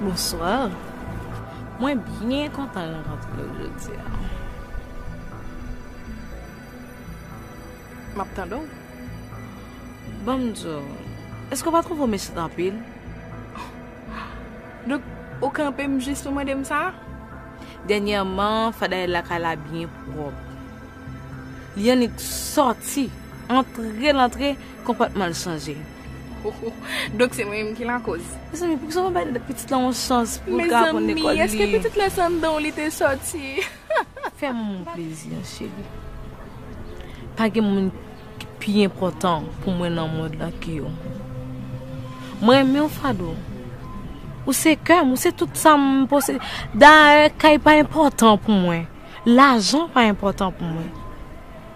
Bonsoir Mwen byen kontan rankontre w jodi a. Map tande w. Banm di w, èske w pa twouve w mechan anpil? Donk ou kanpe m jis pou mande m sa? Dènyèman fadayèl lakay la byen pwòp. Li annik sòti, antre l antre konpòtman l chanje. Donk se mwen menm ki lakoz. Mezanmi poukisa ou pa bay pitit lan yon chans pou l ka aprann lekòl li. Mezanmi eske pitit la se anndan w li te sòti. Fè manman w plezi an cheri. Pa gen moun ki pi enpòtan pou mwen nan mond lan ke ou. Mwen renmen w Fadou. Ou se kè m, ou se tout sa m posede. Dayè kay pa enpòtan pou mwen. Lajan pa enpòtan pou mwen.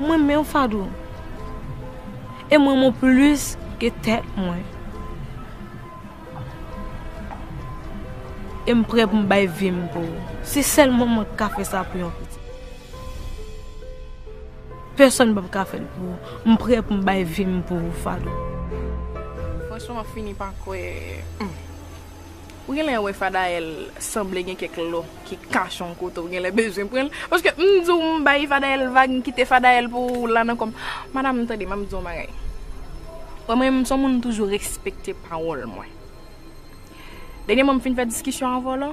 M renmen w Fadou e m renmen w plis ke tèt mwen e m prè pou m bay vi m pou ou se sèl mwen mwen k ka fè sa pou yon pitit pèsòn p ap ka fè l pou ou m prè pou m bay vi m pou ou Fadou. Franchman m ap fini pa kwè. Ou genlè wè Fadael sanble gen kèk lò ki kache yon kote ou genlè bezwen pranl paske m diw m bay Fadael vag m kite Fadael pou ou la nan kòm Madame tande map diw yon bagay wè mwen m son moun m toujou respekte pawòl mwen dènyèman m fin fè diskisyon avèw la.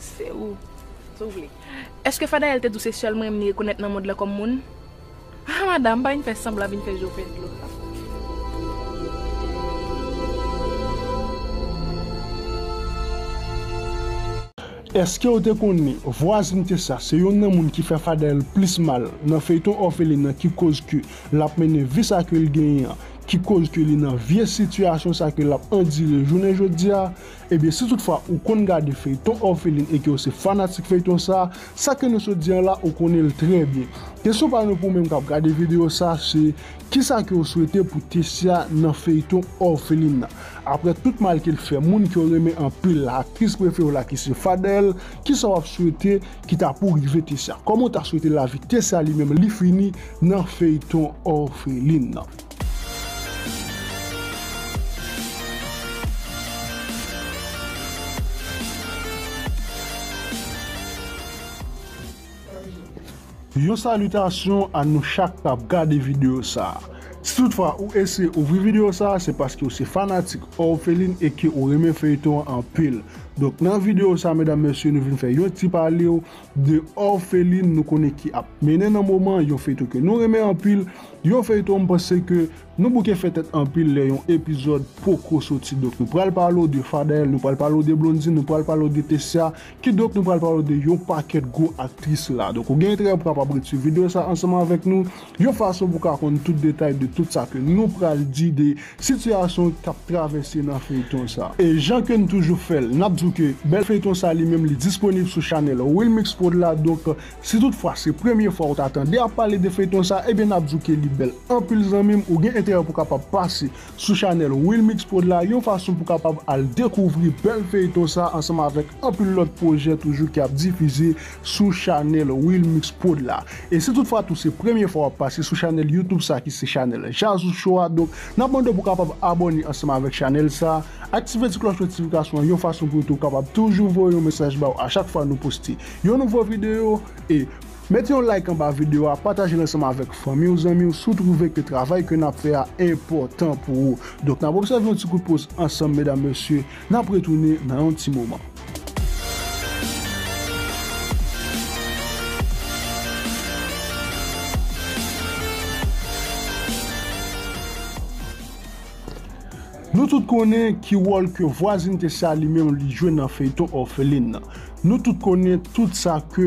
Se ou. Se ou vle. Eske Fadael te di w se sèl mwen li rekonèt nan mond lan kòm moun? Ha madam, pa vin fè sanblan vin fè je w fè dlo. Eske w te konnen vwazinte sa se youn nan moun ki fè Fadael plis mal nan feyton òfelin an ki koz ke l ap mennen vi sa ke l genyen an, ki koz ke li nan vye sitiyasyon sa ke l ap andire jounen jodia? Ebyen si tout fwa ou konn gade feyton orpheline e ke ou se fanatik feyton sa, sa ke nou sot di an la ou konnen l trè byen. Kesyon pa nou pou menm kap gade video sa se kisa ke ou swete pou Tessia nan feyton orpheline nan? Aprè tout mal ke l fè moun ke w renmen anpil la, aktris prefe w la ki se Fadel, kisa wap swete ki ta pou rive Tessia? Kòman ou ta swete lavi Tessia li menm li fini nan feyton orpheline nan? Yon salitasyon a nou chak kap gade videyo sa a. Si tout fwa ou eseye ouvri videyo sa a se paske ou se fanatik Orpheline e ke ou renmen feyton an anpil. Donk nan videyo sa a medam mesye nou vin fè yon ti palew 2 òfelin nou konnen ki ap mennen nan moman yon feyton ke nou renmen anpil, yon feyton m panse ke nou bouke fè tèt anpil lè yon epizòd poko soti donk nou pral pale w de Fadel, nou pral pale w de Blondine, nou pral pale w de Tessia, kidonk nou pral pale w de yon pakèt gwo aktris la. Donk ou gen enterè pou kapab ret swiv videyo sa ansanm avèk nou. Yon fason pou ka konn tout detay de tout sa ke nou pral di de sitiyasyon kap travèse nan feyton sa. E jan ke n toujou fè l, nap di w ke bèl feyton sa li menm li disponib sou chanèl Wilmix Prod la donk si tout fwa se premye fwa ou ta tande ap pale de feyton sa ebyen nap di w ke li bèl anpil zanmi m ou gen enterè pou kapab pase sou chanèl Wilmix Prod la yon fason pou kapab al dekouvri bèl feyton sa ansanm avèk anpil lòt pwojè toujou ki ap difize sou chanèl Wilmix Prod la. E si tout fwa tou se premye fwa wap pase sou chanèl YouTube sa ki se chanèl Jazou Show a donk nap mande w pou kapab abòne ansanm avèk chanèl sa, aktive ti klòch notifikasyon an yon fason pou yo tou kapab toujou voye yon mesaj ba w a chak fwa nou poste yon nouvo videyo e Met yon like anba video a, patajel ansanm avèk fanmi w, zanmi w si w twouve ke travay ke nap fè a enpòtan pou ou. Donk nap obsève yon ti kout poz ansanm medam mesye, nap retounen nan yon ti moman. Nou tout konnen ki wòl ke vwazin te sa li menm li jwe nan feyton òfelin nan. Nou tout konnen tout sa ke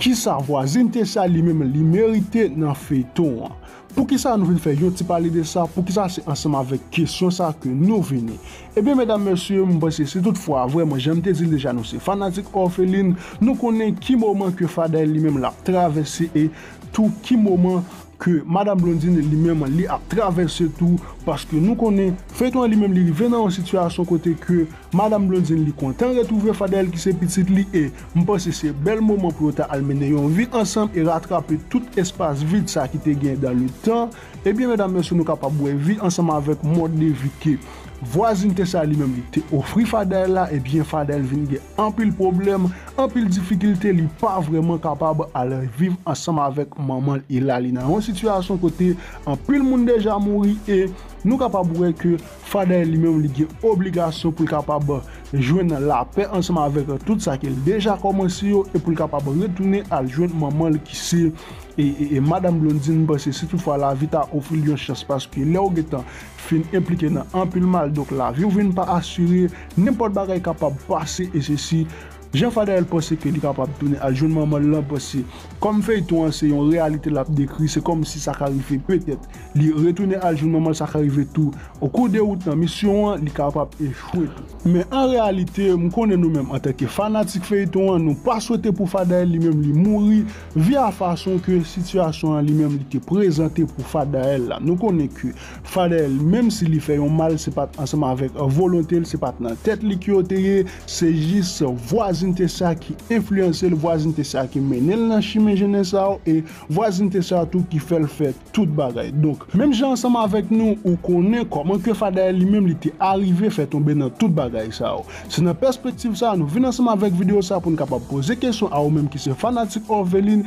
Kisa vwazin Tessia li menm li merite nan feyton an? Poukisa nou vin fè yon ti pale de sa, poukisa se ansanm avèk kesyon sa ke nou vini? Ebyen medam mesye m panse si tout fwa vrèman janm te dil deja nou se fanatik òfelin, nou konnen ki moman ke Faday li menm lap travèse e tou ki moman ke madam Blondine li menm li ap travèse tou, paske nou konnen feyton an li menm li rive nan yon sitiyasyon kote ke Madam Blondine li kontan retrouve Fadel ki se pitit li e m panse se bèl moman pou yo ta al mennen yon vi ansanm e ratrape tout espas vid sa ki te gen dan le tan ebyen medam mesye nou kapab wè vi ansanm avèk mòd de vi ke vwazinte sa li menm li te ofri Fadel la ebyen Fadel vin gen anpil pwoblèm anpil difikilte li pa vrèman kapab al viv ansanm avèk manman l e la li nan yon sitiyasyon kote anpil moun deja mouri e nou kapab wè ke Fadèy li menm li gen obligasyon pou l kapab jwenn lapè ansanm avèk tout sa ke l deja kòmanse yo e pou l kapab retounen al jwenn manman l ki se Madam Blondine, m panse si tout fwa lavi ta ofri l yon chans paske lè ou gen tan fin enplike nan anpil mal donk lavi w vin pa asire, nenpòt bagay kapab pase e sesi. Jan Fadael panse ke li kapab tounen al jwenn manman l lan paske kòm feyton an se yon reyalite l ap dekri se kòm si sa ka rive petèt li retounen al jwenn manman l sa ka rive tou okou de wout nan misyon an li kapab echwe tou. Men an reyalite m konnen nou menm antanke fanatik feyton an nou pa swete pou Fadael li menm li mouri via fason ke sitiyasyon an li menm li te prezante pou Fadael la nou konnen ke Fadel menm si li fè yon mal se pat ansanm avèk volonte l se pat nan tèt li ke yo te ye se jis vwazinte sa ki enfliyanse l vwazinte sa ki mennen l nan chimen jennen sa yo e vwazinte sa tou ki fè l fè tout bagay donk menm jan ansanm avèk nou ou konnen kòman ke Fadael li menm li te arive fè tonbe nan tout bagay sa yo se nan pèspektiv sa nou vin ansanm avèk videyo sa pou n kapab poze kesyon a ou menm ki se fanatik Orpheline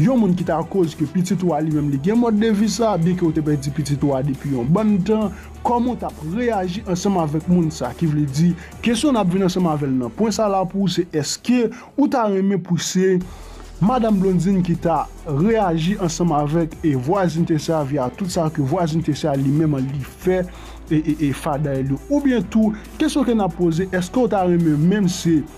Yon moun ki ta koz ke pitit ou a li menm li gen mòd de vi sa, byen ke ou te pèdi pitit ou a depi yon bann tan, kòman ou tap reyaji ansanm avèk moun sa, ki vle di, kesyon nap vin ansanm avèl nan pwen sa la pou ou se eske ou ta renmen pou se Madam Blondine ki ta reyaji ansanm avèk e vwazinte sa via tout sa ke vwazinte sa li menm an li fè e e e fadail yo oubyen tou kesyon ke nap poze eske ou ta renmen menm se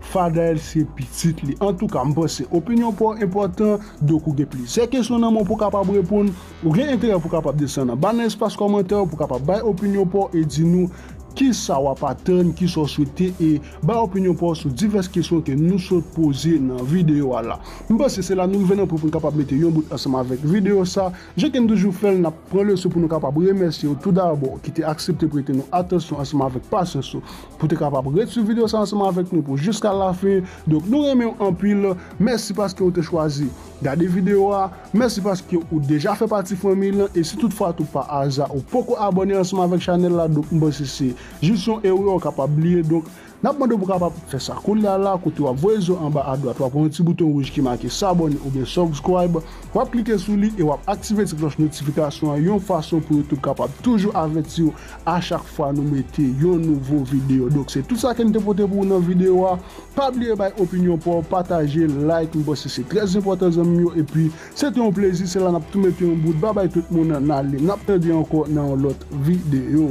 Fadel se pitit li. Antouka, m panse opinyon pa w enpòtan, donk ou gen plizyè kesyon nan men w pou w kapab reponn. Ou gen enterè pou w kapab desann anba nan espas kòmantè yo pou w kapab bay opinyon pa w e di nou kisa w ap atann, kisa w swete e bay opinyon pa w sou divès kesyon ke nou sot poze nan videyo a la. M panse se la nou rive nan pwen pou n kapab mete yon bout ansanm avèk videyo sa. Jan ke n toujou fè l, n ap pran leson pou nou kapab remèsye ou toudabò ki te aksepte prete nou atansyon ansanm avèk pasyans ou pou w te kapab ret swiv videyo sa ansanm avèk nou pou jiska lafen. Donk nou renmen w anpil. Mèsi paske ou te chwazi gade videyo a. Mèsi paske ou deja fè pati fanmiy lan. E si tout fwa tou pa aza ou poko abòne ansanm avèk chanèl la, donk m panse se jis yon erè ou kapab li ye. Donk N ap mande w pou w kapab fè sa kounye a la kote w ap voye zo anba adwat w ap wè yon ti bouton wouj ki make Sabone oubyen Subscribe, w ap klike sou li e w ap aktive ti klòch notifikasyon an yon fason pou YouTube kapab toujou avèti w a chak fwa nou mete yon nouvo videyo. Donk se tout sa ke n te pote pou ou nan videyo a, pa bliye bay opinyon pa w, pataje, like, m panse se trè enpòtan zanmi m yo epi se te yon plezi, se la n ap tou mete yon bout, babay tout moun, n ale, n ap tande ankò nan yon lòt videyo.